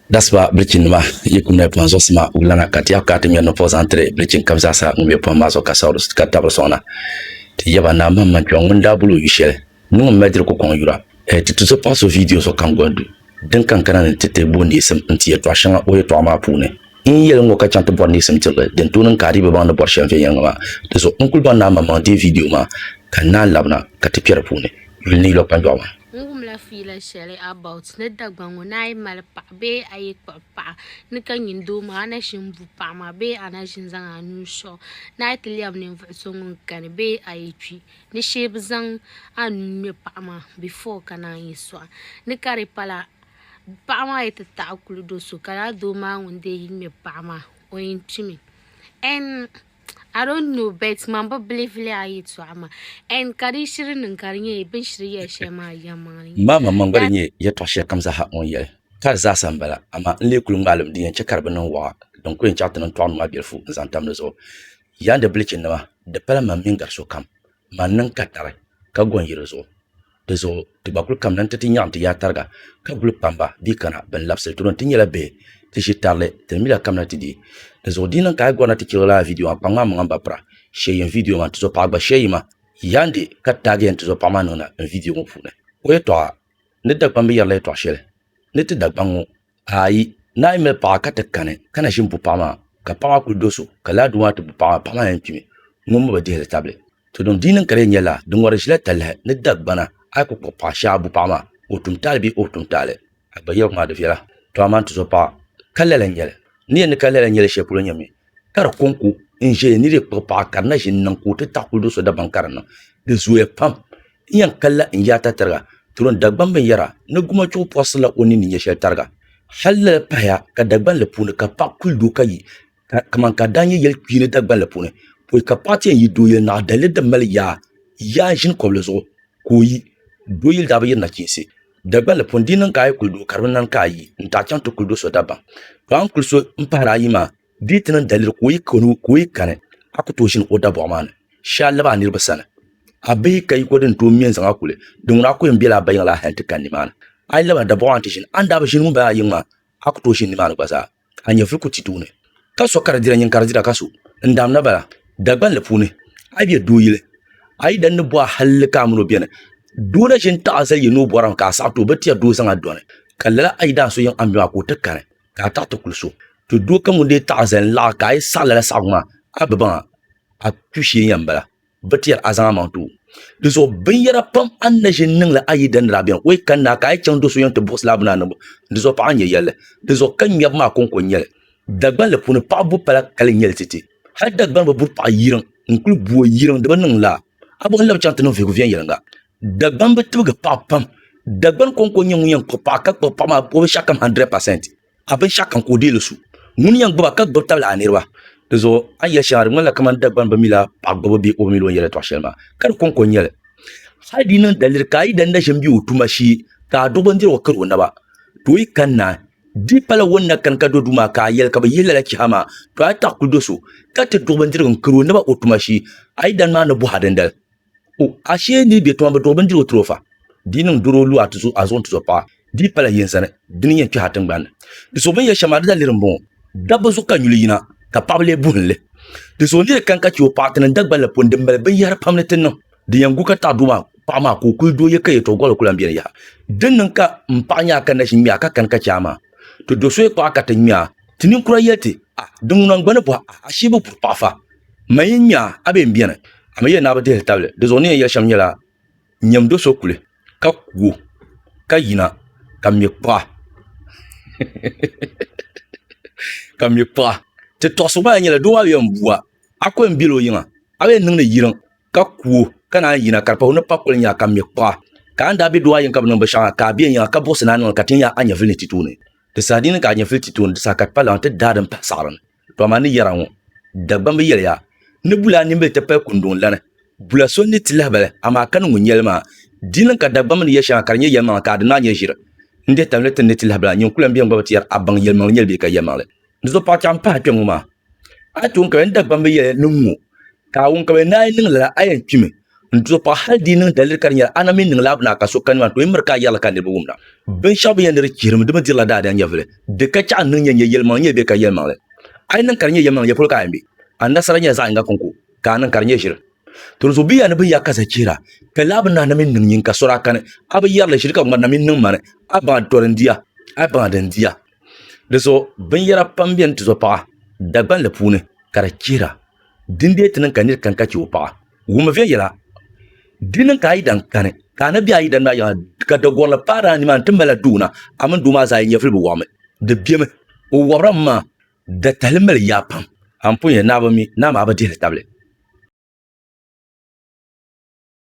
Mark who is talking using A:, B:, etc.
A: Dasiba bilichin nima yi ku mɛ pɔhim zuɣusima wulana ka ti yɛh ka ti ŋmɛri nupɔh zaŋ tiri bilichin kab zaasa ŋun mɛ pɔhim maa zuɣu ka Saulus ka tabiri sɔŋna. Ti yɛba Naa man man kpɛŋ ŋun daa boli o yu shɛli ni ŋun mali diri kukɔŋ yura. Ɛɛ ti tuzo paɣa so viidiyo so kam goli du din kan kana ni ti ti bo neesim n-ti yɛtɔɣ shɛŋa o yɛtɔɣa maa puuni. N yɛli ŋɔ ka chaŋ ti bɔri neesim tirili din tooi niŋ ka a dii bi baŋ ni bɔri shɛm viɛnyɛliŋga maa. Di zuɣu n kuli baŋ Naa man maŋ deei viidiyo maa ka n naan labina ka ti kpɛ di puuni. N ni lo kpanjɔɣu maa. N wumla fiila
B: shɛli about ni Dagbaŋ ŋɔ ni a yi mali paɣa bee a yi kpuɣi paɣa ni ka nyin doo maa a na ʒin bu paɣa maa bee a na ʒin zaŋ a nuu sɔɣi ni a yi ti lɛbi ninvuɣ so ŋun kani bee a yi kpi ni shee bi zaŋ a nuu ŋme paɣa maa before ka naan yi sɔɣi ni ka di pala paɣa maa yi ti taɣi kuli do so ka lala doo maa ŋun dee yi ŋme paɣa maa o yin kpimi. N. I don't know bet man bi believe li a yi tɔɣa maa and ka di shiri niŋ ka di nyɛ bin shiri yɛli shɛli maa yɛlimaŋli n Ŋmaa maŋmaŋ gba di nyɛ
A: yɛltɔɣ shɛli kam zaa ha o ni yɛli ka di zaasa m-bala, amaa n lee kul ŋmaalim din yɛn chɛ ka di bi niŋ waɣa din kul yɛn chaɣ ti niŋ tɔɣinima maa bilifu n-zaŋ tam di zuɣu. Yandi bilichinima, di pala man mini gari sokam, man niŋ katari ka gɔn yi di zuɣu. dizuɣu ti gba kuli kamina nti ti nyaɣim ti yaa tariga ka guli kpamba dii kana bɛn labisili tuuro nti nyɛla bihi ti ʒi tarili ti ni mila kamina ti di dizuɣu di niŋ ka a yi gɔrina ti chirigi lala vidiyo maa kpaŋmaŋ maŋa m-ba pira shɛɛ yim vidiyo maa n-tizo paɣa gba shɛɛ yima yandi ka taagi ya n-tizo paɣa maa niŋna n vidiyo ŋɔ puuni o yɛtɔɣa ni Dagbamb yɛrila yɛtɔɣ shɛli ni ti Dagbaŋ ŋɔ Ayi, naa yi mali paɣa ka ti kani ka na ʒini bu paɣa maa ka paɣa maa kuli do so ka laa doo maa ti bu paɣa maa, paɣa maa yɛn kpimi ŋun mi bi dihili tabili. To din di niŋ ka di yɛn nyɛ laa, di ŋɔri ʒila talahi ni Dagbana a yi kuli kpuɣi paɣa shee a bu paɣa maa ka o tum taali bee o bi tum taali. Agbayiɣu maa di viɛla, to amaa n-ti zo paɣa ka lala n-nyɛli. N ni yɛn ni ka lala n-nyɛli shɛli polo nyɛ mi ka di konko n ʒɛya ni di kpuɣi paɣa ka di na ʒini niŋ ka o ti taɣi kuli do so dabam ka di niŋ di zooya pam n yɛn kanla n yaai tatariga turon Dagban binyɛra ni gumachuɣu pɔrisila o ninni nyɛ shɛli tariga hal lala pahaya ka Dagbanli puuni ka paɣa kuli do ka yi kaman ka daa nyɛ yɛli kpiini Dagbanli puuni pɔi ka paɣa ti yɛn yi dooyili naɣa daliri din mali yaa yaa ʒini kɔbili zuɣu ka o yi dooyili daa bi yiri nachiinsi Dagbal li puuni, di yi niŋ ka a yi kuli doo ka di bi niŋ ka a yi n taɣi chaŋ ti kuli do so dabam. To a ni kuli so n pahiri ayi maa, di yi ti niŋ daliri ka o yi kani, a ku tooi ʒini o dabɔɣu maa ni shee a labi a niriba sani. A bi yi ka yiko din tooi me n-zaŋ a kuli, dinŋuna a ku yɛn bela a ba yiŋ la hal nti kani nimaani. A yi labi a dabɔɣu maa ni ti ʒini, a ni daa bi ʒini ŋun bala ayi ŋɔ maa, a ku tooi ʒini nimaani gba zaa. ka a nyɛvili ku ti tuuni, ka so ka di dira nyin ka di dira ka so n daam na bala. Dagbanli puuni, a yi be doo yili, a yi dan ni bo a halli ka a min o beni, doo na ʒin taɣi zali yi ni o bɔri a mi ka a saɣi ti o, bɛ tiya doo zaŋ a dɔni, ka lala a yi daan so yiŋ a ni be maa ka o ti kani ka a taɣi ti kuli so. To doo kam ŋun dee taɣi zali n laɣi ka a yi saɣi lala saɣigu maa, a bi baŋ a, a kpi shee yɛn bala. Bɛ ti yɛri a zaŋ a maŋ tuui. Di zuɣu binyɛra pam a ni na ʒini niŋ li a yi dani daa beni. O yi kani naa ka a yi chaŋ do so yɛn ti buɣisi li a bi naa niŋbu. Di zuɣu paɣa n-nyɛ yɛlli. Di zuɣu ka ŋmɛbu maa kɔŋko n-nyɛ li. Dagbanli puuni paɣa bu pala kali n-nyɛ li titi. Hali Dagbani bi buri paɣa yiriŋ n-kuli bu o yiriŋ di bi niŋ laa. A bɔhi n-labi chaŋ ti niŋ vihigu viɛnyɛliŋga. Dagbani bi tibigi paɣa pam. Dagbani kɔŋko n-nyɛ ŋun yɛn kpuɣi paɣa ka kpuɣi paɣa maa o binshɛɣukam 100%. ka binshaɣu kam ka o deei li su ŋuni n yɛn gbuba ka gbubi tabili a niriba di zuɣu a ni yɛli shɛŋa di ŋmanila kamani Dagbani bi mi la paɣa gbubu bee o bi mi la o ni yɛli yɛltɔɣa shɛli maa ka di kɔŋko n nyɛli hali di yi niŋ daliri ka a yi danda ʒini bɛ o tuma shee ka a duɣu bindirigu kari o naba ti o yi kani na di pala o ni na kani ka do duu maa ka a yɛli ka bɛ yihi lala chiha maa to a yi taɣi kuli do so ka ti duɣu bindirigu n-kari o naba o tuma shee a yi dani maa ni bɔhi a dindali O ashee n-lee be tuma bi duɣi bindirigu n-tiri o fa? Di yi niŋ doro o lu a tuzo a zuɣu n-tuzo paɣa, di yi pala yin zani, di ni yɛn kpɛhi a tiŋgbani ni. Di zuɣu bɛn yɛli shɛm maa, di daliri m-bɔŋɔ, Dabba zuɣu ka nyuli yina, ka paɣaba lee buhin li. Di zuɣu n ni lee kani ka chɛ o paɣa ti niŋ Dagban la puuni din mali binyɛhiri pam ni ti niŋ. Di yɛn gu ka taɣi doo maa paɣa maa ka o kuli dooyi ka yɛtɔɣ gɔli ku lan beni yaha. Di ni niŋ ka m paɣa nya a ka naʒin ŋmɛ a ka kani ka chɛ a maa, ti do soya kpaɣa ka ti ŋmɛ a. Ti ninkura yɛli ti, A! Di ŋuna n-gba ni bɔhi a ashee bi buri paɣa fa? M ma yɛn nya a bee m-beni, amaa yɛn daa bi dihiri tabili. Di zuɣu ni yɛn yɛli shɛm nyɛla, Nyam do so kuli, ka ku o, ka yina, ka me kpuɣa. Ka me kpuɣa. Ti tɔɣisi gba lahi nyɛla, Doo maa bi yɛn bua, a kuli m-bel o yiŋa, a bi yɛn niŋdi yiriŋ, ka ku o, ka naan yina, ka di pahi o ni pa kuli nya, ka me kpuɣa. Ka a ni daa be doo a yiŋ ka bi niŋ binshɛɣu maa, ka a be n yiŋa, ka buɣisi ni a niŋ li, ka ti nya a nyɛvili ni ti tooni. Di saha di yi niŋ ka a nyɛvili ti tooni, di saha ka ti pa laɣim ti daai din pahi saɣiri ni. Dama ni yɛra ŋɔ, Dagbamba yɛliya ni bula nimbili ti pali kunduŋ lani, bula so n-ni ti lahibali, amaa ka niŋgu nyɛli maa. Di niŋ ka Dagbamba ni yɛri shɛŋa ka di nyɛ yɛlimaŋli ka di naan nyɛ ʒiri n-dih talinli ti ni ni ti lahibila. Nyin kula m-beni gba bi ti yɛri a baŋ yɛlimaŋli nyɛli bee ka yɛlimaŋli. Di zuɣu paɣa chɛɣu m-pahi kpɛŋŋɔ maa. A yi tooi n-kabili ni Dagbamba yɛli niŋ ŋɔ, Kaawuni ka bɛ naai niŋ lala, a yɛn kpimi n-di so paɣa hali di yi niŋ daliri ka di nyɛla a na mi niŋla a bini a ka so kani maa ni ti o yi miri ka a yɛrili ka niriba wumda. Binshɛɣu bɛ yɛn ni di chihirimi di mi dirila daadaya nyɛvili, di ka chɛɣu n-niŋ yɛn nyɛ yɛlimaŋli n-yɛn be ka yɛlimaŋli. A yi niŋ ka di nyɛ yɛlimaŋli yɛli polo ka a yɛn be, a nasara nyɛla zaɣ yiŋga kɔŋko ka a niŋ ka di nyɛ ʒiri. Tɔnso bɛ ya ni bɛ ya ka za chihira, pɛli a bini na mi niŋ yinka so daa kani a bi yɛrili shili ka ŋmarina mi niŋ mani a baŋa tɔri n-di a, a baŋa di n-di a. Di zuɣu binyɛra pam beni ti zuɣu paɣa Dagbanli puuni ka di chihira. Di n-deei ti niŋ ka nir kani ka chɛ o paɣa. Wummi viɛŋ yɛla, Di niŋ ka a yidana kani, ka a ni be a yidana maa yiŋa, ka dagorili paari a nimaani ti mali a doo na, a mini doo maa zaa yi nyɛvili bi wɔbimi. Di bemi, o wɔbirami maa datahili mali yaa pam. Anpɔnya, Naa bi mi, Naa maa bi dihili tabili.